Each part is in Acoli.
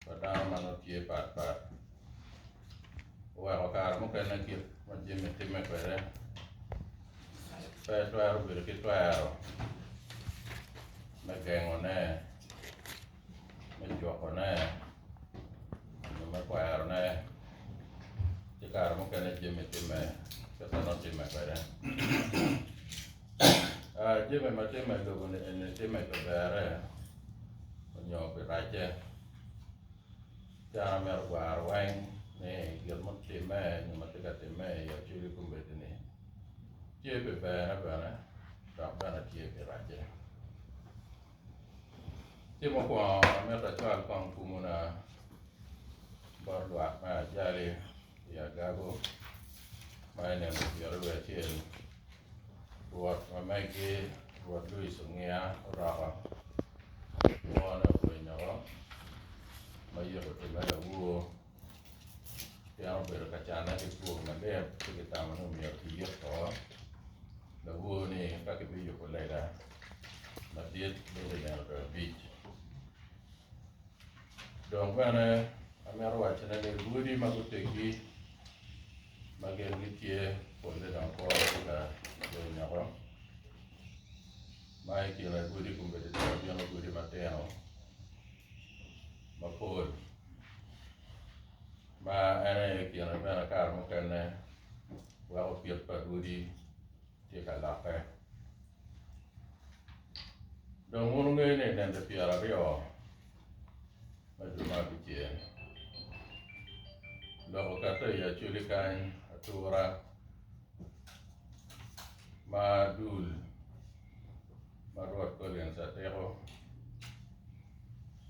pa dano ma nongo tye pat pat oweko kare mukene kit ma Jimmy timme kwede pe twero bedo ki twero me gengone, me jwokone, nyo me kwerone ci kare mukene Jimmy timme kit ma nongo timme kwede. Jami ma tye me lobo ni eni tye me kaberre nyo pi racce dano myero ogwar weng ni gin ma otimme nyo ma tye ka timme i aculli kombeddi ni tye pi berne bene dok bene tye pi racce ci mukwongo amito acwal kong kumu na bot lwak me ajali i agago ma i nino pyeraryo acel, Rwot ma megi, Rwot Luis Ongiya oroko kwone obwiny oko, ma yiko otime lawur, pien obedo ka canne ki kur malit ci kitamo ni myero kiyik woko lawur-ni eka kibiyubo lega madit bot i nino dwe abic. Dok bene amito wacone ni lwodi ma guteggi ma gin gitye polle dong kwo ki ka yo nyoko ma i kine lwodi kombeddi dong abino lwodi matino mapol ma en aye i kine bene kare mukene weko kit pa lwodi tye ka lokke. Dong wun wungeyo ni nende pyeraryo ma jo ma abicel dok okato i acoli kany atura ma dul ma Rwot Collins Atiko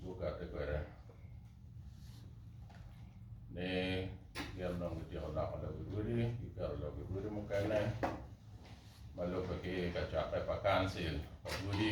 gukatte kwede ni gin dong gityeko loko lawil odi giketo lawil odi mukene ma lubbe ki kacokke pa kancil pa godi.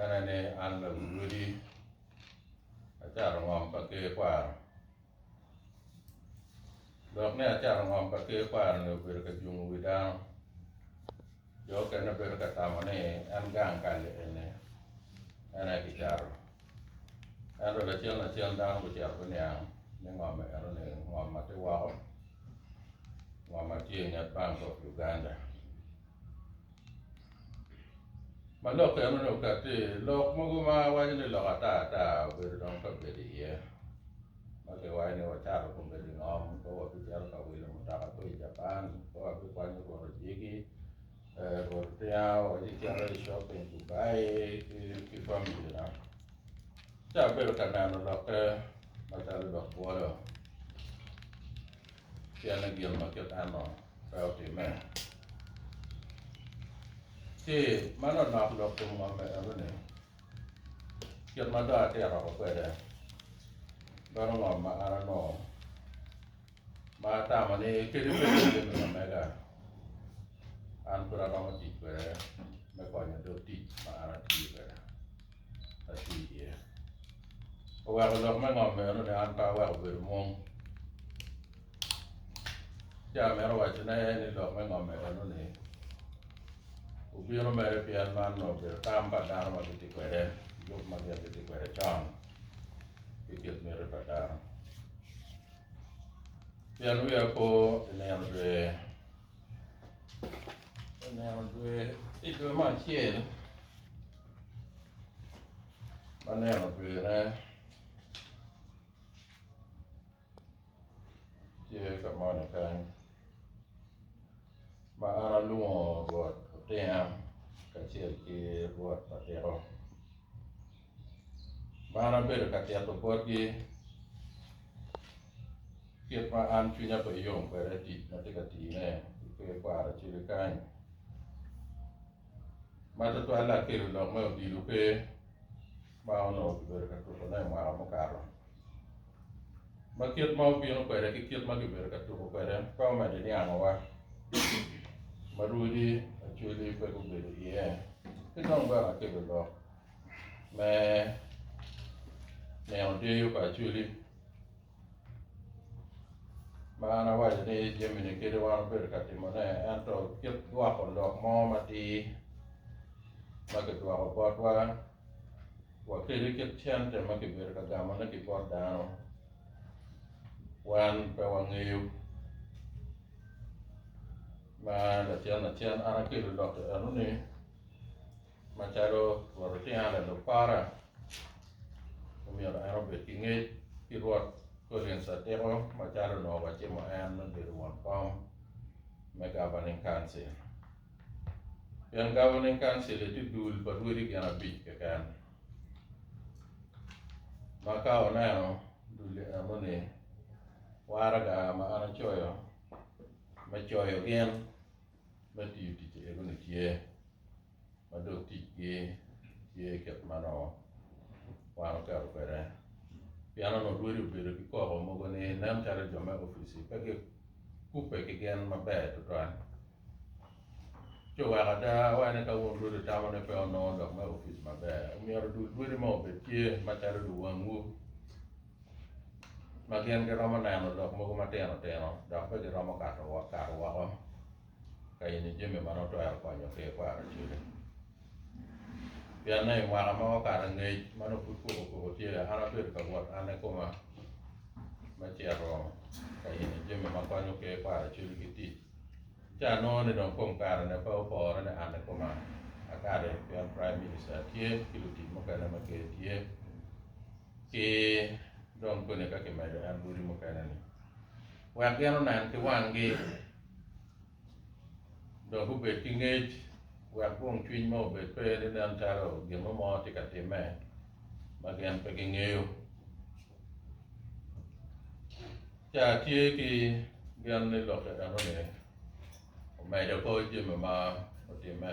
Ene ni an lawilwili acato ngom pa Ker kwaro, dok ni acato ngom pa Ker kwaro-ni obedo ka jungo wi dano. Jo okene bedo ka tamo ni en gang kal-li eni en aye kicato. Ento lacen lacen dano gucito guniang ni ngom eno-ni ngom ma tye woko, ngom ma tye i nget Bank of Uganda. Ma lok eno ni oket ti lok mogo ma waco ni lok ata ata obedo dong ka bedo iye ma ki waco ni wacato kun bedo i ngom ka wabicito ka wilo mutoka ki i Japan ka wabikwanyo rwodo dyegi rwodo otinga wabicito i shopping Dubai ki famili na ci abedo ka neno lokke macalo lok bwolo Pien i gin ma kit eno pe otimme. Ci ma lanok lok kom ngom me eno ni, Kit ma dong atito oko kwede, meno ngom ma an anongo, ma atamo ni kadi bed ni jami ma mega, an pud aromo tic kwede me konyo dog tic ma an atiyo kwede. atye iye. Oweko lok me ngom meno ni an pe aweko bedo mom. Ci amito wacone ni lok me ngom meno-ni obino mere pien man onongo obedo tam pa dano ma gitye kwede, lub ma gin gitye kwede con ki kit miti pa dano. Pien wiya po i nino dwe, i nino dwe, i dwe me acel, Aneno pire tye ka moni kany ma an alwongo rwot otinga kacel ki rwot atiko ma an abedo ka tito botgi kit ma an cwinya pe yom kwede tic ma atye ka tine ki kwer kwaro cwiny kany. ma tutwalle akelo lok me odilo pe ma onongo kibedo ka tukone i mwaka mukato. Ma kit ma obino kwede ki kit ma kibedo ka tuko kwede pe omedde niangowa, ma rwodi acweli pe gubedo iye, ki dong bene akelo lok me nino deyo pa acweli. Ma an awaco ni jami-ni kadi wan obedo ka timone, ento kit gwoko lok mo matir ma kigwoko botwa wa kadi kit cente ma kibedo ka gamone ki bot dano, wan pe wangeyo. Ma lacen lacen an akelo lok-ki eno ni. Macalo Rwot otinga lalub para, omyero en obed ki ngec ki Rwot Collins Atiko macalo onongo wacimo en me bedo won kom me Governing Council. Pien Governing Council-li tye dul pa rwodi gin abic keken, ma ka wuneno dul-li eno-ni, waraga ma an acoyo me coyo gin, me tiyo tic i odi-ni tye, ma dong ticgi tye kit ma nongo wan oketo kwede. Pien onongo lwodi obedo ki koko mogo ni nen calo jo me opic-ci pe gikubbe ki gen maber tutwal. Ci oweko ada wa ni ka wun lwodi wutamo ni pe wunongo lok me opic maber, myero dul lwodi ma obed tye macalo luwangwu. ma gin giromo neno lok mogo matino tino dok pe giromo kato woko ka yenyo jami ma nongo twero konyo ki ikwaro acwele. Pienne i mwaka ma okato angec ma nongo pud kubo kubo tye iye, an abedo ka wot an kikoma me cito ka yenyo jami ma konyo ki ikwaro acwele ki tic. Ci anongo ni dong kom karene pe opore ni an kikoma akati pien Prime Minister tye ki lutic mukene ma Ker tye. Ci dong koni ka kimedo en lwodi mukene-ni, wek gin onen ki wanggi, dong gubed ki ngec, wek gung cwiny mo obed pe ni nen calo gin mo mo tye ka timme ma gin pe gingeyo. Ca tye ki gin ni lokke enoni omedo ko jami ma otimme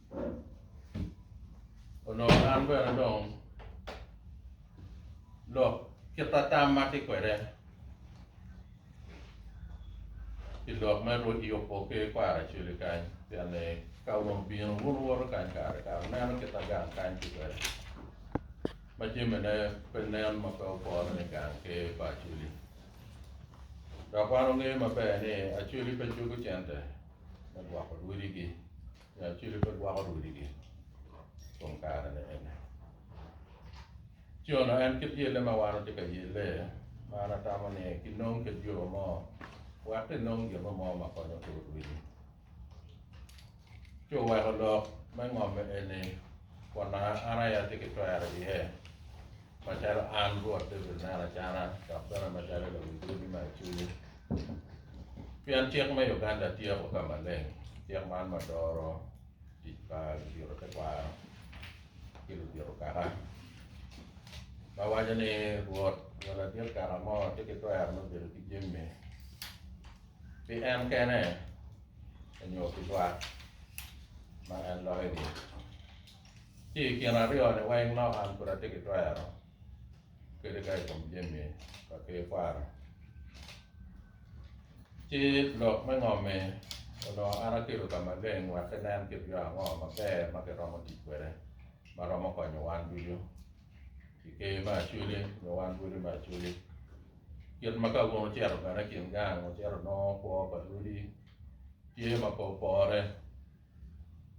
oloko an bene dong lok kit atam ma atye kwede i lok me Yubu ki Kwaracwili kany pien ni ka wun obino wun wuwoto kany kare kare wuneno kit ma gang kany tye kwede ma jamine pe nen ma pe opore ni gang ki pa Acwili dok wan wangeyo maber ni Acwili pe cuko cente me gwoko lwodigi. Nyacodi pe gwoko rwodigi i kom karene eni. Cono en kit yelle ma wan watye ka yelle, ma an atamo ni kinong kit yo mo wek kinong gin mo ma konyo tur rwidi. Ci oweko lok me ngomme eni kun nanga an aye atye ki twero iye, macalo an Rwot David nen acana dok bene macalo i lawi godi ma i cwinyi. Pien cik me Uganda tyeko ka maleng cik man ma doro tic pa ludito tekwaro ki ludito kaka, ma waco ni Rwot nyo ladit kaka mo tye ki twero me bedo ki jami pi en kene nyo pi lwak ma en loyogi. Ci i kin aryo-ni weng lok an pud atye ki twero. kede ka i kom jami pa Ker kwaro. Ci lok me ngomme onongo an akelo ka maleng wek kinen kit yo ango maber ma kiromo tic kwede ma romo konyo wan ducu i Ker me Acweli nyo wan Lwodi me Acweli. Kit ma ka wun wucito bene i kin gang wucito inongo kwo pa Lwodi tye ma pe opore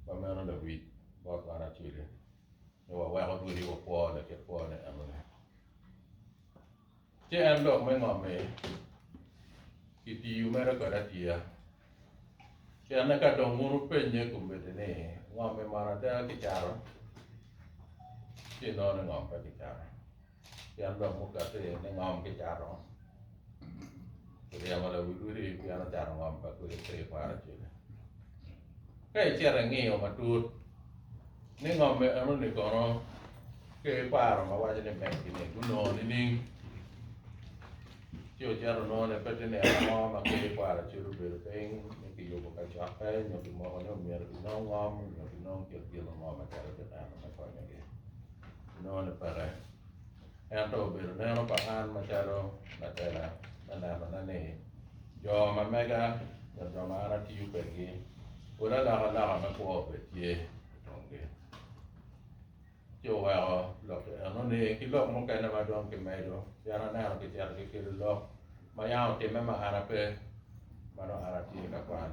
ma meno lewic bot wan Acweli. ni waweko ducu wakwo laket kwone enoni. Ci en lok me ngomme kitiyo mere kod atiya. Pien eka dong wun wupennye i kom miti ni, Ngomme mono ada kicato? Ci inongo ni ngom pe kicato. Pien dok mukato iye ni ngom ki cato, kiryemo lawi odi pien ocato ngom pa kodi pe i kwaro cwiny. Ka icito ingiyo matut ni ngom enoni kono ki kwaro ma waco ni megi-ni gunongo nining, ci wucito wunongo ni pe tye nino mo ma kodi kwaro cwiny obedo piny ni kiyubo kacokke nyo kimoko ni omyero kinong ngom nyo kinong kit gin mo ma calo gin eno me konyogi. Nongo ni peke. Ento obedo neno pa an macalo latela me nenone ni jo ma mega nyo jo ma an atiyo kwedgi pwod alokaloka me kwo bene tye i komgi. Ci oweko lok enoni ki lok mukene ma dong kimedo pien aneno kicito gikelo lok Ma yam otimme ma an ape, ma nongo an atye i lakwan,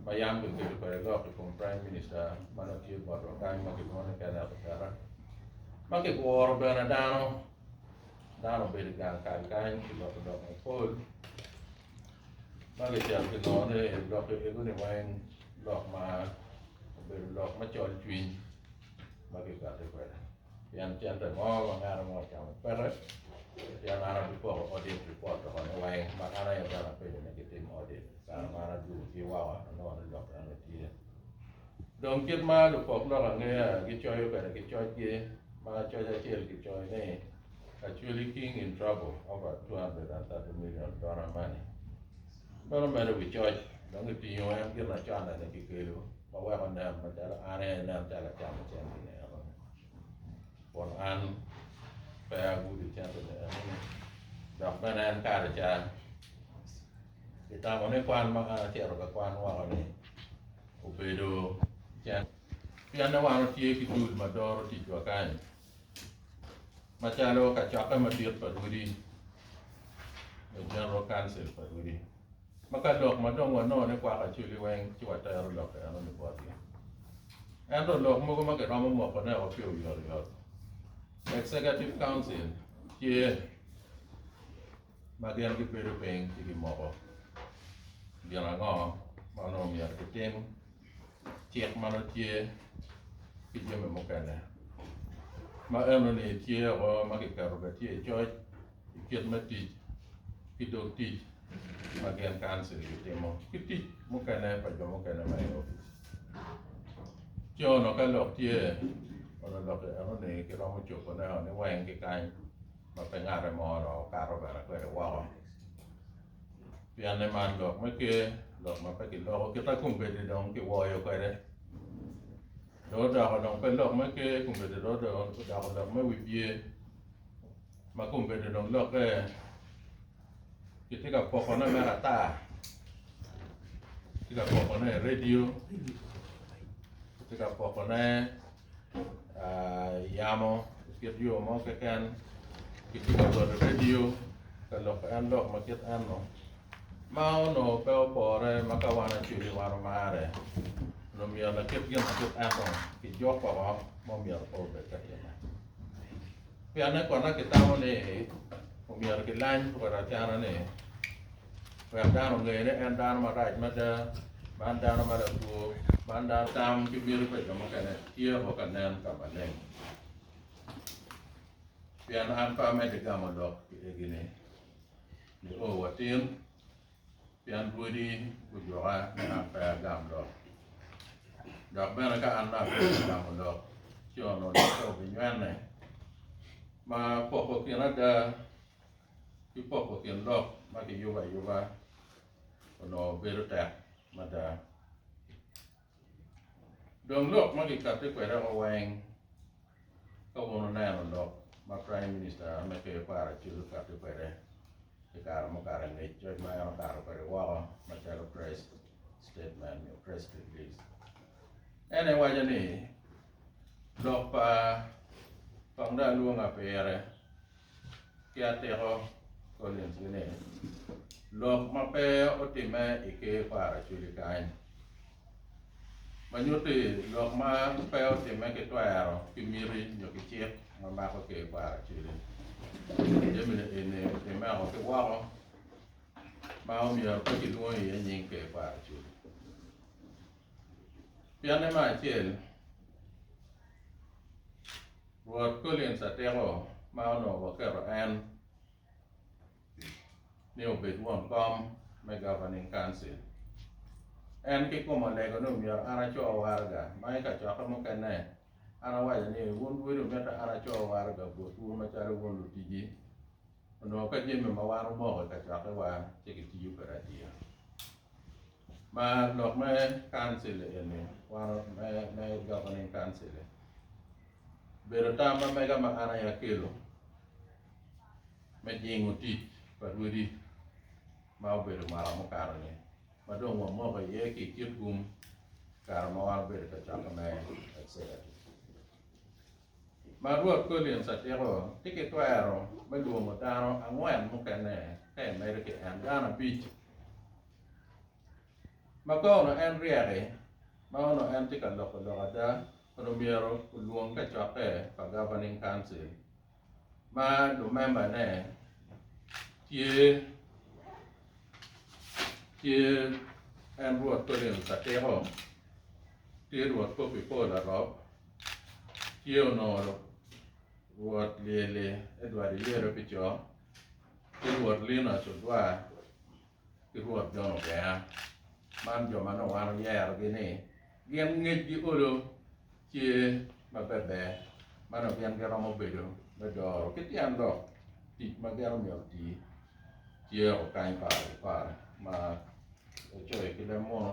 ma yam kiketo kwede lok i kom Prime Minister ma nongo tye botwa kany ma kilwongo ni Kenneth Oketo, ma kiguro bene dano, dano obedo i gang kal kany kiloko lok mapol ma kicito kinongo ni lok ego-ni weng lok ma obedo lok macol cwiny ma kikati kwede. Pien cente mo ma nganu mo ocamo peke, pien an abipoko odit pi pot tokone weng, ma kan aye bene apenyo ni gitim odit. I kare man adwogogi woko, anongo ni lok eno tye. Dong kit ma lupok lok angeya gicoyo kwede ki cocgi, ma coc acel kicoyo ni, Actually King in Trouble over $230 Million Donor Money. Meno medo wi coc, dong itingo en ginacone-ni kikelu. ma weko nen macalo an aye nen calo acamo cente-ni enoni kun an pe agudo cente-ni enoni dok bene en kare ca kitamo ni kwan ma an acito ka kwan woko-ni obedo cen pienni wan watye ki dul ma doro ticwa kany macalo kacokke madit pa lwodi me General Council pa lwodi. Ma ka lok ma dong wanongo ni kwako acweli weng ci watero lok enoni botgi. Ento lok mogo ma kiromo mokone o pi oyotoyot, Executive Council tye ma gin gibedo piny ci gimoko gin ango ma onongo myero kitim, cik ma nongo tye ki jami mukene. Ma enoni tye o ma kiketo bene tye i coc i kit me tic ki dog tic ma gin kancil gitimo ki tic mukene pa jo mukene ma i opic. Ci ono ka lok tye, ono lok enoni kiromo cobone o ni weng ki kany ma pe ngate mo onongo okato bene kwede woko. Pien ni man lok me ker, lok ma pe kiloko kita kombeddi dong kiwoyo kwede. Dong odoko dong pe lok me ker, kombeddi dong odoko lok me wi pye. ma kombedde dong lokke, kitye ka pokone mere ata, kitye ka pokone i redio, kitye ka pokone i yamo kit yo mo keken, kitye ka goto redio ka loko en lok ma kit eno, ma onongo pe opore ma ka wan acweli wan omarre, onongo myero lakit gin ma kit eno kijuk woko ma omyero pe obed ka time. Pianne kono kitamo ni omyero kilany kor acana-ni wek dano onge ni en dano marac mada, man dano ma lakwo, man dano. Tam ki miti pa jo mukene tye o ka nen ka maleng. Pien an pe amedde gamo lok i egi-ni, nio watin. Pien rwodi gujuka ni an pe agam lok, dok bene ka an naka pe agamo lok, ci onongo lok-ka obinywene. Ma poko kin ada ki poko kin lok ma kiyubo ayuba onongo bedo tek mada. Dong lok ma gikatte kwede o weng ka wun wuneno lok ma Praim Minista me Ker Kwaro Acid okatte kwede i kare mukato angec coc ma en okato kwede woko macalo press statement nyo press release. En aye waco ni lok pa pa nda lwonga pire Ki atika, Collins gi ni, lok ma pe otimme i ker pa Araceli kany, ma nyuto ni lok ma pe otimme ki twero, ki miti, nyo ki cik ma mako ker pa Araceli. Jami-ni eni otimme oko ki woko ma omyero pe kilwongo iye nying ker pa Araceli. Pianne me acel, Rwot Collins atiko ma onongo waketo en ni obed won kom me Governing Council. En ki kome olego ni omyero an aco waraga ma i kacokke mukene an awaco ni wun lwodi omyete an aco waraga botwu macalo wun lutiji onongo ka jami ma wan omoko i kacokkewa ci kitiyo kwede adier. Ma lok me Council eni, one of me me governing council ni, obedo tam ma mega ma an aye akelo me jingo tic pa rwodi ma obedo mwaka mukato ni, ma dong wamoko iye ki kit gum kare ma wan obedo ka cokkone executive. ma Rwot Collins atiko tye ki twero me lwomo dano angwen mukene ka imedo ki en, dano abic ma ka onongo en ryeki ma onongo en tye ka loko lok ada onongo myero olwong kacokke pa Governing Council ma lumembane tye tye en Rwot Collins atiko, tye Rwot Poppy Paul Arop, tye onoro rwot lyelle Edward Iyere pi co ki rwot Linus Odwar ki rwot John Ogea man jo ma nongo wan oyerogi ni gin ngecgi olo tye ma beber ma nongo gin giromo bedo me doro ki tyen lok tic ma gin omyero guti tyeko kany paro ki paro ma ocoyo ki leb munu.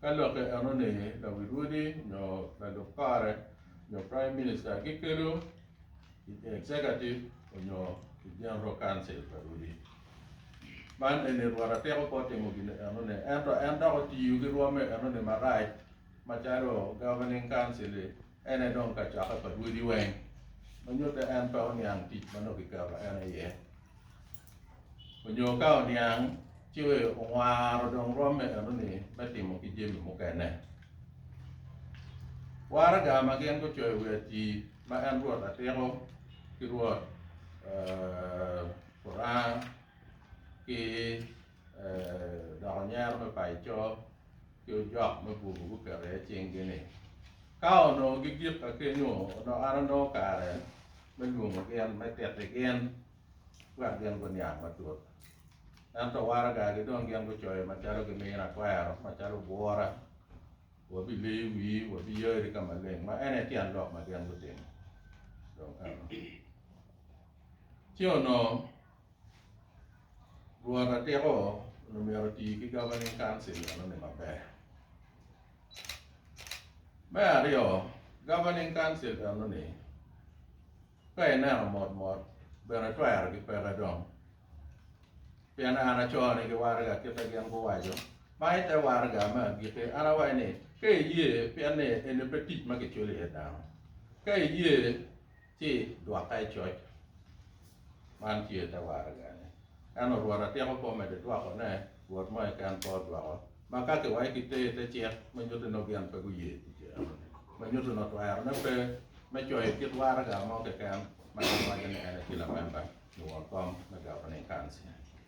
Ka lokke enoni, lawil odi nyo lalub kare nyo Praim Minista gikelo i Egcegativ onyo i Jeneral Kauncil pa odi. Man eni rwot atek opo timo gin enoni, ento en dok otiyo ki rwomme enoni marac macalo Governing Council-li en aye dong kacokke pa rwodi weng, ma nyutte en pe oniang tic ma nongo kiketo en aye. onyo ka oniang ci owaro dong romme enoni me timo ki jami mukene. Waraga ma gin gucoyo i wi atii ma en Rwot Atiko ki Rwot Kurang ki. Dok anyira me Paicor ki ojok me Bubu guketo iye cinggi ni, Ka onongo gigikka kenyu, onongo an anongo kare me lwongo gin, me titi gin, wek gin guniang matut. Ento waragagi dong gin gucoyo macalo gimina kwero, macalo bwura, Wabiliyo wii, wabiyari ka maleng. Ma en aye tyen lok ma gin gutimo. Dong eno. Ci onongo. Rwot atiko onongo myero oti ki Governing Council enoni maber. Me aryo, Governing Council enoni ka ineno mot mot bedo atwero ki peke dong pien an acoo ni giwarga kite gin guwaco ma ite warga me agiki an awaco ni ka iye pien ni eni pe tic ma kiculo iye dano ka iye Ci dwoka i coc. Man tye te waragane. Ento Rwot atyeko pe omedo dwoko ne Rwot mo keken pe odwoko, ma ka ki wayo ki ter te cik ma nyuto ni ogin pe guye pi cero ni, ma nyuto ni otwero ne pe me coyo kit waraga mo keken ma en waco ni en aye tye lamemba nio kom me Governing Council.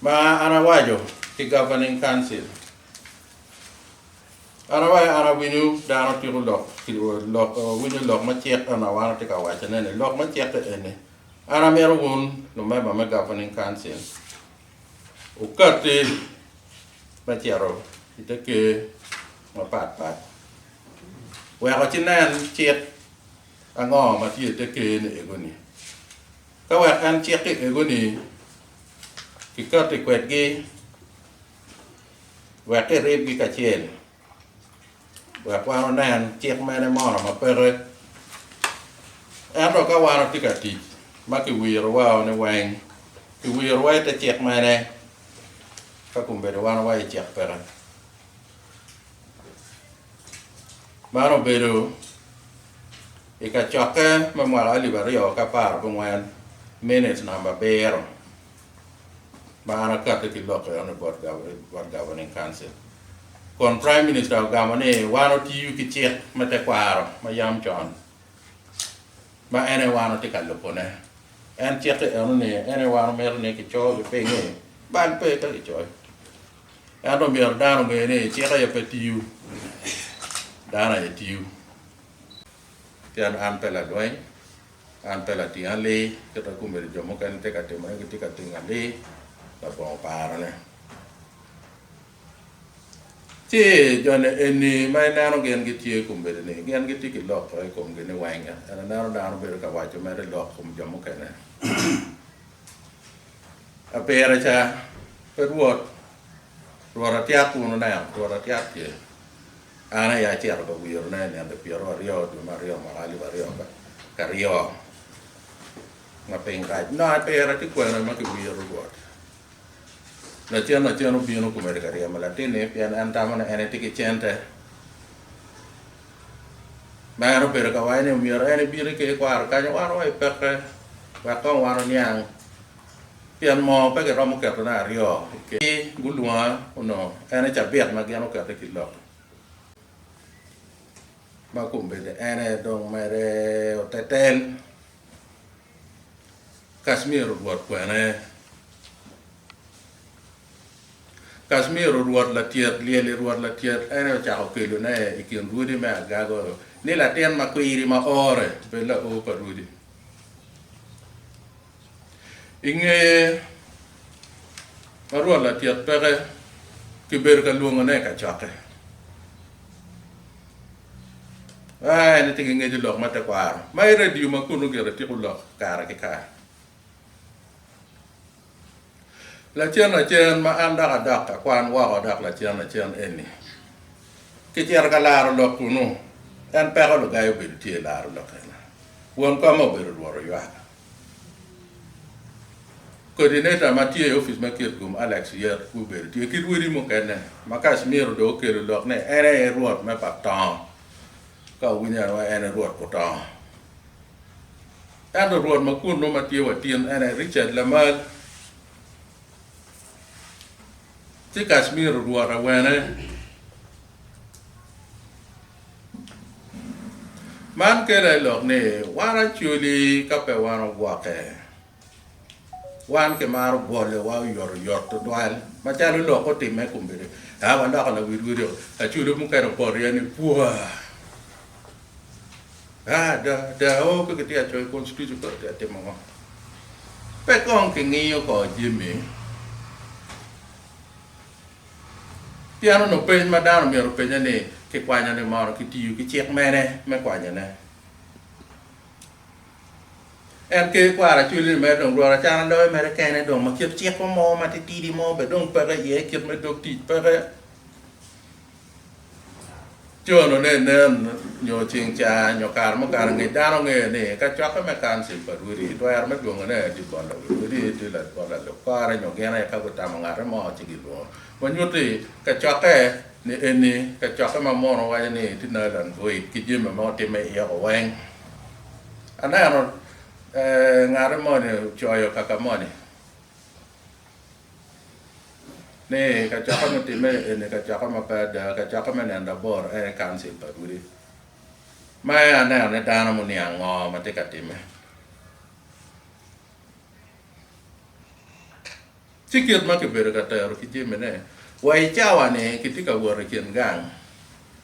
Ma an awaco ki Governing Council, an awaco an awinyo dano tiko lok lok winyo lok ma cik eno ma wan watye ka wacone-ni. Lok me cik-ki eni, an amito wun lumemba me Governing Council wukatti me cito i te ker mapat pat weko ci nen cik ango ma tye i te ker-ni ego-ni. Ka wek en cik ki ego-ni, kikatti kwedgi wek kiribgi kacel, wek wan wunen cik mene mo ma peke. Ento ka wan wutye ka tic ma kiwirowa-u niweng, kiwirowa i te cik mene, ka kombeddi wan wa i cik peke? Man obedo i kacokke me mwaka alip aryo ki apar ki angwen, minit namba abiro ma an akati ki lok enoni bot Governing Council. Kun Prime Minister ogamo ni wan otiyo ki cik me tekwaro ma yam con ma en aye wan watye ka lubone. En cik enoni en aye wan omito ni kicoyo gipiny-ngi bal pe ka kicoyo. Ento myero dano onger ni cik aye pe tiyo, dano aye tiyo. Pien an pe ladweny, an pe lating ali, kita kombeddi jo mukene tye ka timone gitye ka ting ali, labongo oparone. Ci joni eni ma ineno gin gitye kombeddi-ni, gin gitye ki lok i komgi niweng, pien ineno dano bedo ka waco mere lok i kom jo mukene. Apera ca, pe Rwot, Rwot atyak wun oneno, Rwot atyak tye. An aye acito ka wirone i nino pyerro aryo dwe me aryo mwaka alip aryo karyo ma piny rac. Nongo apera tye kwene ma kiwiro Rwot. Lacen lacen obino komedi ka ryemo latinni pien en tamo ni en etye ki cente. ma en obedo ka waco ni omyero en ebiti ki ikwaro kanyo wan wa ipeke wek kong wan oniang pien mo pe giromo keto ne aryo ki gulwonga onongo en aye cabit ma gin okete ki lobo ma kombeddi en aye dong mere otetel. Kacmiro Rwot kwene? Kacmiro Rwot latyet lyel-li, Rwot latyet ene ocako kelone i kin rwodi me agago ni latin ma kwiri ma ore bed laor pa rwodi. I ngeye ma Rwot latyet peke, kibedo ka lwongone i kacokke. Aa, en aye gingeco lok ma tekwaro ma i radio ma kunu gire tiko lok kare ki kare. Lacen acen ma an dok adok ka kwan woko dok lacen acen eni kicito ka laro lok kunu, en peko lugai obedo tye i laro lok ena. Won koma obedo rwot oywak. Kodineta ma tye i opic me Kitgum, Alex Yet Kubed tye ki rwodi mukene ma Kacmiro dong okelo lok ni en aye Rwot me pa tongo ka owinyo en wa en aye Rwot Kutongo. Ento Rwot ma kunnu ma tye wa tin en aye Richard Lamal ci Kacmiro Rwot awene. Man kela i lok ni wan acoli ka pe wan ogwokke. Wan kimaro bwolewa oyotoyot tutwal macalo lok otimme i kombeddi. Ka waloko lawidwideo, acoli mukene opoto iye ni pua! A da, da, oo pe kitye ka coyo Constitution, pe watye ka timo ngo? Pe kong kingiyo kor jami. Pien onongo peny ma dano myero openye ni, 'Kikwanyoni mono kitiyo ki cik mene me kwanyone? En ker kwaro acwelli-ni mere dong rwot acana loyo mere kene dong ma kit cik mo matitidi mo bene dong peke iye kit me dog tic peke. Cono ne nen nyo ceng ca nyo kare mukato angec dano ngeyo ni kacokke me Council pa Rwedi twero me dwongo ne aye tye bolo wi Rwedi tye bolo lalub kore nyo gin aye ka gutamo ngate mo ci gi lwongo ma nyuti kacokke ni eni kacokke ma mono waco ni tye Nylon void ki jami ma otimme iye ko weng. Aneno ngate moni ocoyo kaka moni. ni kacokka mutimme eni kacokka ma pe ada, kacokka me nino labor en aye Council pa Rwodi. Ma en aneno ni dano muniang ngo ma tye ka timme. Ci kit ma kibedo ka tero ki jami ne, wa i cawa ni kitye ka wot i kin gang,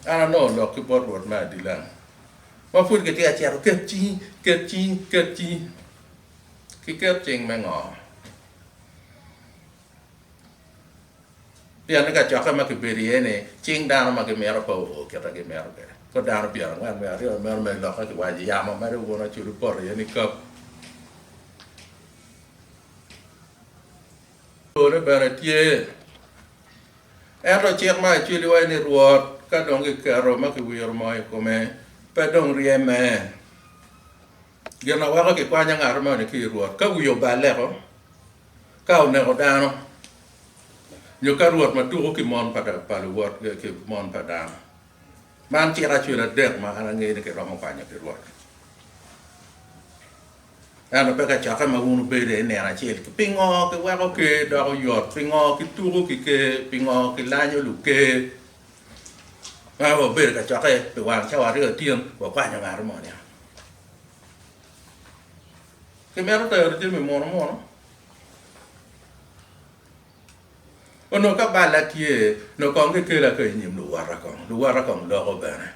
an anongo lok ki bot Rwot me adilang ma pud kitye ka cito ket cingi, ket cingi, ket cingi. ki ket cing me ngo? Pien ni kacokke ma kibedo iye ni cing dano ma gimito pe oo kita gimito kwede. Kor dano pyen angwen wiye aryo ni meno mere lokke ki waco yamo mere uno acudu poto iye ni kap. Pole bene tye. Ento cik ma acwili waco ni Rwot ka dong kiketo ma kiwiro moo i kome pe dong ryeme. Gin ma weko kikwanya ngat moni ki i Rwot, ka wiye oballeko, ka oneko dano, nyo ka rwot ma tuko ki mon pa luwot ki mon pa dano. Man cik acwil adek ma an angeyo ni kiromo kwanyo ki Rwot. Ento pe kacokke ma wun wubedo iye nino acel. Pingo kiweko ker doko yot? Pingo kituko ki ker? Pingo kilanyo luker? Ka wabedo ka cokke pi wang cawa aryo acel, wakwanyo ngat mo niang. Kimito tero jami muno muno. Onongo ka balla tye, onongo kong kikela ka i nyim luwote kong, luwote kong loko bene.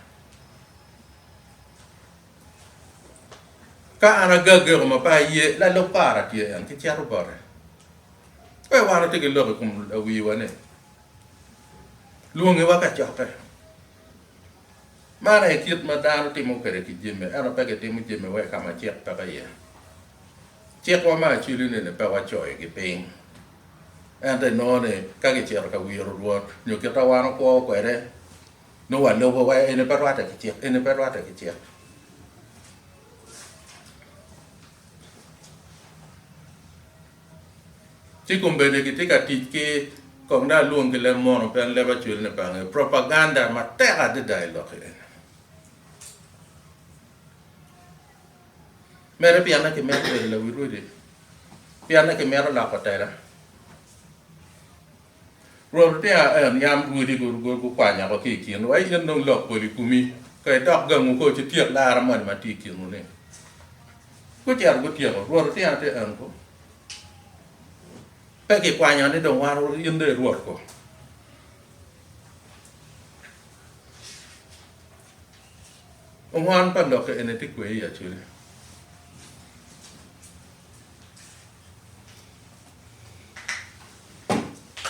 Ka an agageko ma pe aye, lalub para tye en, kicito bote. Pe wan watye ki lok i kom lawiwa ni. lwonge wa kacokke. Man aye kit ma dano timo kwede ki jami, ento pe gitimo jami wa i ka ma cik peke iye. Cikwa me acili-ni ni pe wacoyogi piny, ento inongo ni ka gicito ka wiro Rwot nyo kit ma wan wakwo kwede, nongo walubo wa, eni pe rwatte ki cik, eni pe rwatte ki cik. Ci kombedde kitye ka tic ki, kong dong alwong ki leb mono pien leb acwelone pe angeyo, propaganda matek adada i lokke eni. Mere pienne kimito bedo lawil odi? Pienne kimito loko tela? Rwot otiya en, yam rwodi gukwanya oko ki i kin wa, in dong lok pol i komi ka idok gangu ko ci tyek lara moni ma tye i kinwu-ni. Gucito gutyeko. Rwot otiya ti en ko, Pe kikwanya ni dong wan wuru in dong i rwot ko? Ongwan pa lok eni ti kwe i acwele.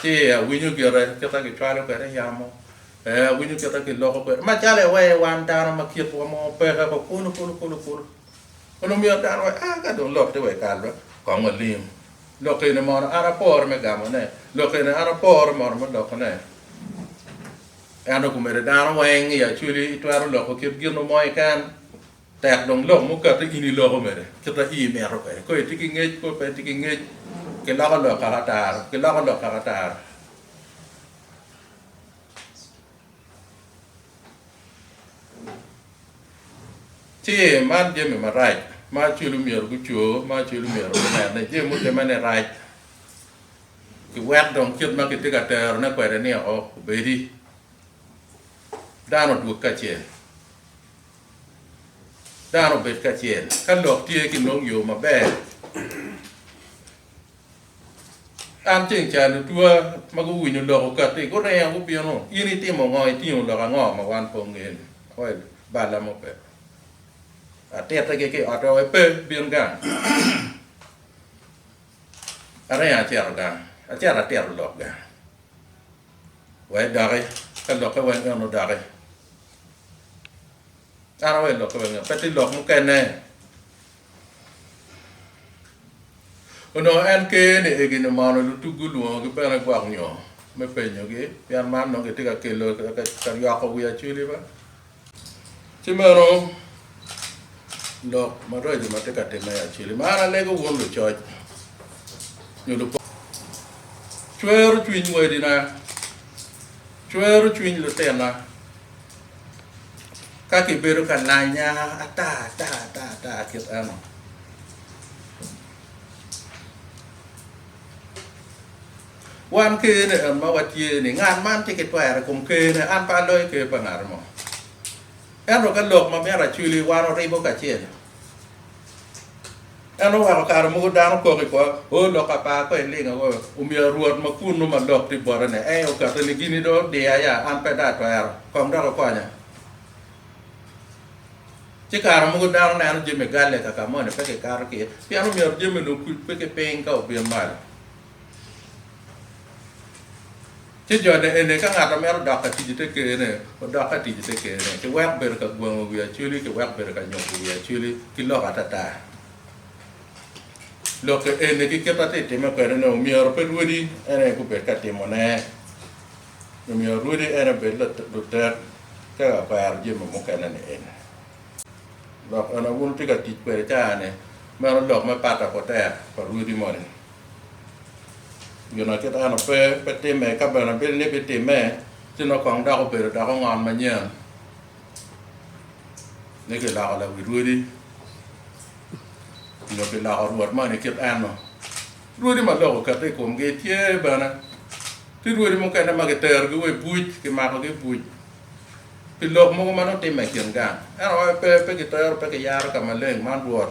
Ci awinyo gire kita gicwalo kwede yamo, ee awinyo kita giloko kwede macalo iwee wan dano ma kitwa mo peke ko kulu kulu kulu kulu. Onongo myero dano wee aa ka dong lok tye wee kal be kong walim. Lok eni mono an aporo me gamone, lok eni an aporo mono me lokone. Ento kumene dano weng i Acholi itwero loko kit ginu mo keken. Tek dong lok mukato in iloko mere kita i imito kwede. Ko itye ki ngec ko pe itye ki ngec, kiloko lok kaka ataro, kiloko lok kaka ataro. Ci man jami marac ma acwelu myero guco, ma acwelu myero gunene, jami mutimme ni rac, kiwek dong kit ma kitye ka terone kwede ni o obedi dano odwog kacel. dano obed kacel ka lok tye ki nongo yo maber. An ceng ca lutwa ma guwinyo lok okati guringo gubino, in itimo ngo, itingo lok ango ma wan pe ongeyo ni? Well, balla mo pe. Atiti gi ki ot owe pe bin gang. Aringo aceto gang, aceto atito lok gang. Wek doki ka lokke weng en odoki. Kara wek lokke weng en, pe tye lok mukene. Onongo en ker ni egini omono lutugi olwongogi bene gwok nyo me penyogi pien man nongo gitye ka kelo ka yoko wi acholi be. Ci meno lok maraco ma tye ka timme acel i mar alego wun lucoc nyo lupot. Cwero cwiny wadina, cwero cwiny lutinna ka kibedo ka lanya ata ata ata ata kit eno. Wan kene en ma watye ni ngat man tye ki twero i kom kene, an pe aloyo ker pa ngat mo. Ento ka lok ma myero aculi, wan oribo kacel. En oweko kare mogo dano kok i kwo, O, lok apar kong iling ago, omyero Rwot ma kunnu ma lok tye bote ni, ee okato ni gini dong odiya ya, an pe dong atwero, kong dok ikonya. Ci kare mogo dano neno jami galle kaka moni pe kikato ki, pien omyero jami-nu okuc pe ki piny ka obin malo. Ci jone eni, ka ngat a mito dok ka tic i te Ker-ne, odok ka tic i te Ker-ne, ki wek bedo ka gwango wi Acweli, ki wek bedo ka nyuko wi Acweli ki lok atata. Lok-ki eni, ki kit atye timme kwede-ni, omyero pe rwodi en aye gubed ka timone. Omyero rwodi en aye obed lutek ka ka kwero jami mukene-ni eni. Lok eni wun wutye ka tic kwede caa-ni, meno lok me pata kutek pa rwodi moni. Gin ma kit eno pe, pe timme, ka bene bil ni bitimme, ci nongo kong dok obedo dok ongon manyen ni kiloko lawi rwodi nyo kiloko rwot moni kit eno. Rwodi ma lok okette i komgi tye bene. Tye rwodi mukene ma kiterogi wa i buc, kimakogi i buc pi lok mogo ma nongo timme i kin gang. Ento wa pe, pe kitero, pe kiyaro ka maleng, man rwot.